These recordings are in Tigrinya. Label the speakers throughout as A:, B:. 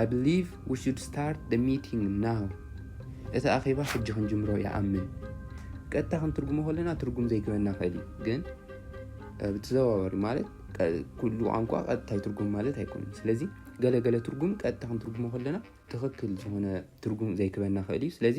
A: I believe we should start the meeting now እቲ ኣኼባ ሕጂ ክንጅምሮ ይኣምን ቀጥታ ክንትርጉሞ ከለና ትርጉም ዘይግበና ኽእል እዩ ግን ብተዘዋዋሪ ማለት ኩሉ ቋንቋ ቀጥታ ይትርጉም ማለት ኣይኮነን ስለዚ ገለገለ ትርጉም ቀጥታ ክንትርጉሞ ከለና ትኽክል ዝኾነ ትርጉም ዘይክበና ክእል እዩ ስለዚ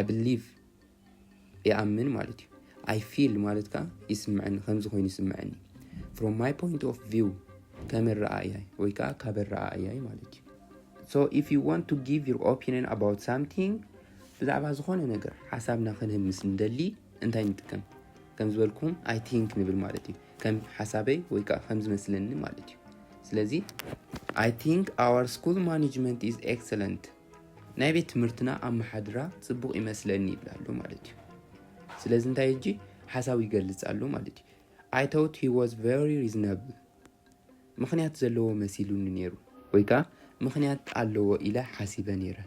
A: I believe ይኣምን ማለት እዩ I feel ማለት ከዓ ይስምዐኒ ከምዚ ኮይኑ ይስምዐኒ from my point of view ከም ረኣያይ ወይ ከዓ ካብ ረኣያይ ማለት እዩ so if you want to give your opinion about something ብዛዕባ ዝኾነ ነገር ሓሳብና ክንህብ ምስ ንደሊ እንታይ ንጥቀም ከም ዝበልኩም ኣይ ቲንክ ንብል ማለት እዩ ከም ሓሳበይ ወይ ከዓ ከም ዝመስለኒ ማለት እዩ ስለዚ ኣይ ቲንክ ኣወር ስኩል ማኔጅመንት ኢዝ ኤክሰለንት ናይ ቤት ትምህርትና ኣመሓድራ ጽቡቕ ይመስለኒ ይብል ኣሎ ማለት እዩ ስለዚ እንታይ እጂ ሓሳቡ ይገልጽ ኣሎ ማለት እዩ ኣይ ቶት ሂ ዋዝ ቨሪ ሪዝናብል ምኽንያት ዘለዎ መሲሉኒ ነይሩ ወይ ከዓ ምኽንያት ኣለዎ ኢለ ሓሲበ ነይረ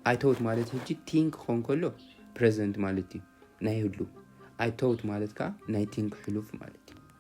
A: ኣይ ቶት ማለት ህጂ ቲንክ ክኸውን ከሎ ፕሬዘንት ማለት እዩ ናይ ህሉ ኣይ ቶት ማለት ከዓ ናይ ቲንክ ሕሉፍ ማለት እዩ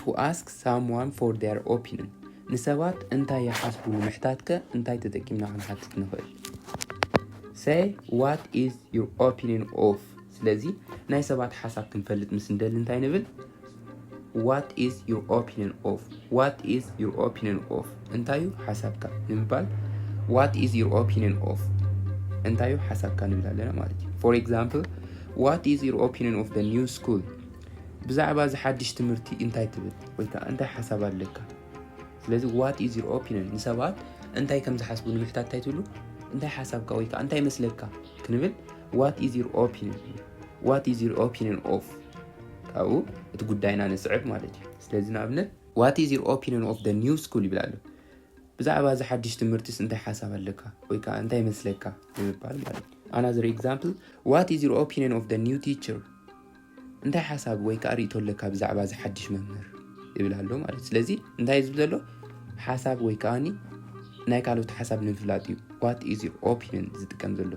A: ቱ ኣስክ ሳምዋን ፎር ዜር ኦፒንን፣ ንሰባት እንታይ ይሓስቡ ንምሕታትከ እንታይ ተጠቂምና ክንሓትት ንኽእል? ሰይ ዋት ኢዝ ዩር ኦፒንን ኦፍ ስለዚ ናይ ሰባት ሓሳብ ክንፈልጥ ምስ እንደሊ እንታይ ንብል? ዋት ኢዝ ዩር ኦፒንን ኦፍ ዋት ኢዝ ዩር ኦፒንን ኦፍ እንታይ እዩ ሓሳብካ ንምባል ዋት ኢዝ ዩር ኦፒንን ኦፍ እንታይ እዩ ሓሳብካ ንብል ኣለና ማለት እዩ። ፎር ኤግዛምፕል ዋት ኢዝ ዩር ኦፒንን ኦፍ ደ ኒው ስኩል ብዛዕባ እዚ ሓድሽ ትምህርቲ እንታይ ትብል ወይ ከዓ እንታይ ሓሳብ ኣለካ? ስለዚ ዋት ኢዝ ዩር ኦፒኒየን ንሰባት እንታይ ከም ዝሓስቡ ንምሕታት እንታይ ትብሉ እንታይ ሓሳብካ ወይ ከዓ እንታይ ይመስለካ ክንብል ዋት ኢዝ ዩር ኦፒኒየን ዋት ኢዝ ዩር ኦፒኒየን ኦፍ ካብኡ እቲ ጉዳይና ንስዕብ ማለት እዩ። ስለዚ ንኣብነት ዋት ኢዝ ዩር ኦፒኒየን ኦፍ ደ ኒው ስኩል ይብል ኣሎ። ብዛዕባ እዚ ሓድሽ ትምህርትስ እንታይ ሓሳብ ኣለካ ወይ ከዓ እንታይ ይመስለካ ንምባል ማለት እዩ። ኣናዘር ኤግዛምፕል ዋት ኢዝ ዩር ኦፒኒየን ኦፍ ደ ኒው ቲቸር እንታይ ሓሳብ ወይ ከዓ ርእቶ ኣለካ ብዛዕባ እዚ ሓድሽ መምህር ይብል ኣሎ ማለት ስለዚ እንታይ ዝብ ዘሎ ሓሳብ ወይ ከዓኒ ናይ ካልኦት ሓሳብ ንምፍላጥ እዩ ዋት ኢዝ ዩር ኦፒኒን ዝጥቀም ዘሎ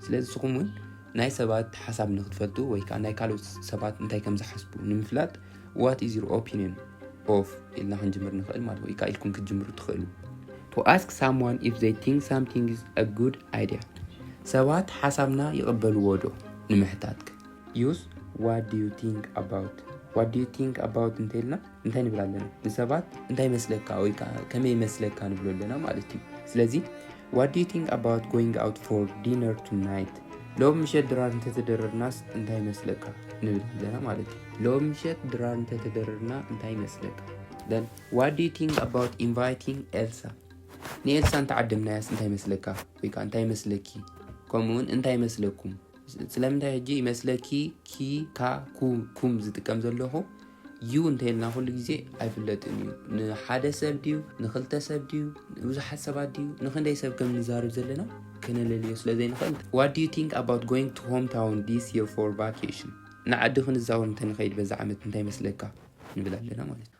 A: ስለዚ ንስኹም እውን ናይ ሰባት ሓሳብ ንክትፈልጡ ወይ ከዓ ናይ ካልኦት ሰባት እንታይ ከም ዝሓስቡ ንምፍላጥ ዋት ኢዝ ዩር ኦፒኒን ኦፍ ኢልና ክንጅምር ንኽእል ማለት ወይ ከዓ ኢልኩም ክትጅምሩ ትኽእሉ ቱ ኣስክ ሳምዋን ኢፍ ዘይ ቲንክ ሳምቲንግ ኢዝ አ ጉድ ኣይድያ ሰባት ሓሳብና ይቕበልዎ ዶ ንምሕታትክ ዩስ ዋት ዲዩ ቲንክ ኣባውት ዋት ዲዩ ቲንክ ኣባውት እንተይልና እንታይ ንብል ኣለና ንሰባት እንታይ መስለካ ወይ ከዓ ከመይ መስለካ ንብሎ ኣለና ማለት እዩ ስለዚ ዋት ዲዩ ቲንክ ኣባውት ጎይንግ ኣውት ፎር ዲነር ቱናይት ሎም ምሸት ድራር እንተተደረርናስ እንታይ መስለካ ንብል ኣለና ማለት እዩ ሎም ምሸት ድራር እንተተደረርና እንታይ መስለካ ደን ዋት ዲዩ ቲንክ ኣባውት ኢንቫይቲንግ ኤልሳ ንኤልሳ እንተዓደምናያስ እንታይ መስለካ ወይ ከዓ እንታይ መስለኪ ከምኡውን እንታይ መስለኩም ስለምንታይ ሕጂ ይመስለኪ ኪ ካ ኩ ኩም ዝጥቀም ዘለኹ ዩ እንተይልና ኩሉ ግዜ ኣይፍለጥን እዩ ንሓደ ሰብ ድዩ ንክልተ ሰብ ድዩ ንብዙሓት ሰባት ድዩ ንክንደይ ሰብ ከም ንዛርብ ዘለና ከነለልዮ ስለ ዘይንኽእል ዋት ዩ ቲንክ ኣባት ጎይንግ ቱ ሆም ታውን ዲስ የር ፎር ቫኬሽን ንዓዲ ክንዛወር እንተንኸይድ በዚ ዓመት እንታይ ይመስለካ ንብል ኣለና ማለት እዩ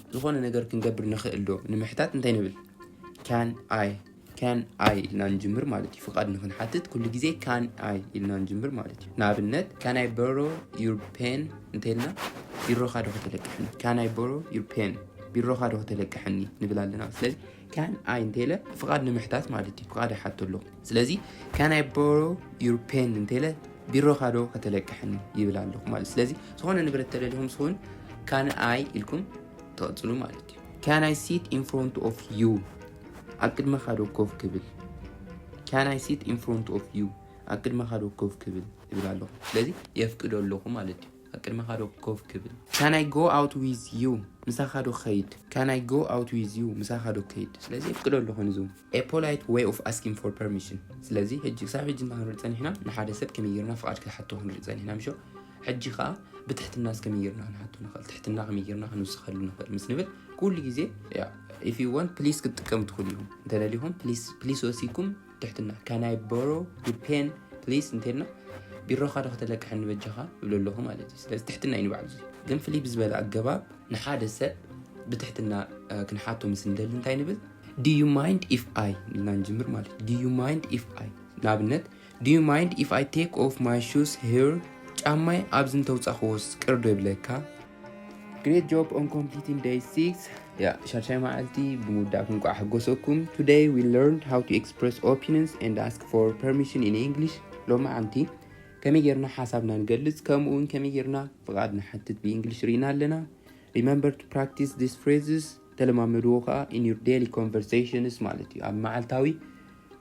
A: ዝኾነ ነገር ክንገብር ንኽእል ዶ ንምሕታት እንታይ ንብል? ካን ኣይ ካን ኣይ ኢልና ንጅምር ማለት እዩ። ፍቓድ ንኽንሓትት ኩሉ ግዜ ካን ኣይ ኢልና ንጅምር ማለት እዩ። ንኣብነት ካን ኣይ ቦሮ ዩር ፔን እንተይልና ቢሮኻ ዶ ከተለቅሐኒ? ካን ኣይ ቦሮ ዩር ፔን ቢሮኻ ዶ ከተለቅሐኒ ንብል ኣለና። ስለዚ ካን ኣይ እንተለ ፍቓድ ንምሕታት ማለት እዩ ፍቓድ ይሓቱ ኣለኹ ስለዚ ካን ኣይ ቦሮ ዩር ፔን እንተለ ቢሮኻ ዶ ከተለቅሐኒ ይብል ኣለኹ ማለት ስለዚ ዝኾነ ንብረት ተደሊኹም ስኹን ካን ኣይ ኢልኩም ተቐፅሉ ማለት እዩ ካን ኣይ ሲት ኢን ፍሮንት ኦፍ ዩ ኣብ ቅድመኻ ዶ ኮፍ ክብል ካን ኣይ ሲት ኢን ፍሮንት ኦፍ ዩ ኣብ ቅድመኻ ዶ ኮፍ ክብል ይብል ኣለኹ ስለዚ የፍቅዶ ኣለኹ ማለት እዩ ኣብ ቅድሜኻ ዶ ኮፍ ክብል? Can I go out with you? ምሳኻ ዶ ክኸይድ? Can I go out with you? ምሳኻ ዶ ክኸይድ? ስለዚ የፍቅዶ ኣለኹ ንዙ። A polite way of asking for permission። ስለዚ ሕጂ ክሳብ ሕጂ እንታይ ክንርኢ ጸኒሕና? ንሓደ ሰብ ከመይ ጌርና ፍቓድ ክንሓቶ ክንርኢ ጸኒሕና ምሾ? ሕጂ ከኣ ብትሕትናስ ከመይ ጌርና ክንሓቶ ንኽእል? ትሕትና ከመይ ጌርና ክንውስኸሉ ንኽእል? ምስ ንብል ኩሉ ግዜ if you want please ክትጥቀሙ ትኽእሉ ኢኹም። እንተደሊኹም please please ወሲድኩም ትሕትና can I borrow your pen please እንተልና ቢሮኻ ዶ ከተለቅሐኒ በጃኻ ይብሎ ኣለኹ ማለት እዩ ስለዚ ትሕትና እዩ ንባዕሉ ግን ፍልይ ብዝበለ ኣገባብ ንሓደ ሰብ ብትሕትና ክንሓቶ ምስ ንደሊ እንታይ ንብል do you mind if I ኢልና ንጅምር ማለት do you mind if I ንኣብነት do you mind if I take off my shoes here ጫማይ ኣብዚ እንተውፃኽዎስ ቅርዶ ይብለካ ግሬት ጆብ ኦን ኮምፕሊቲንግ ደይ ሲክስ ያ ሻድሻይ መዓልቲ ብምውዳእኩም ቋዕ ሕጎሰኩም ቱደይ ዊ ለርን ሃው ቱ ኤክስፕረስ ኦፒንንስ ኤንድ ኣስክ ፎር ፐርሚሽን ኢን ኢንግሊሽ ሎማዓንቲ ከመይ ጌርና ሓሳብና ንገልጽ ከምኡ እውን ከመይ ጌርና ፍቓድ ንሓትት ብኢንግሊሽ ርኢና ኣለና ሪመምበር ቱ ፕራክቲስ ዲስ ፍሬዝስ ተለማመድዎ ከዓ ኢን ዩር ዴይሊ ኮንቨርሴሽንስ ማለት እዩ ኣብ መዓልታዊ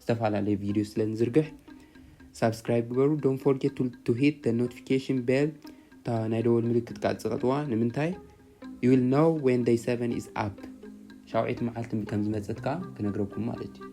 A: ዝተፈላለየ ቪድዮ ስለ ንዝርግሕ ሳብስክራይብ ግበሩ ዶን ፎርጌት ቱ ሂት ደ ኖቲፊኬሽን ቤል እታ ናይ ደወል ምልክት ከዓ ፅቐጥዋ ንምንታይ ዩ ዊል ኖው ዌን ደይ ሰቨን ኢዝ ኣፕ ሻውዒት መዓልቲ ከም ዝመፀት ከዓ ክነግረኩም ማለት እዩ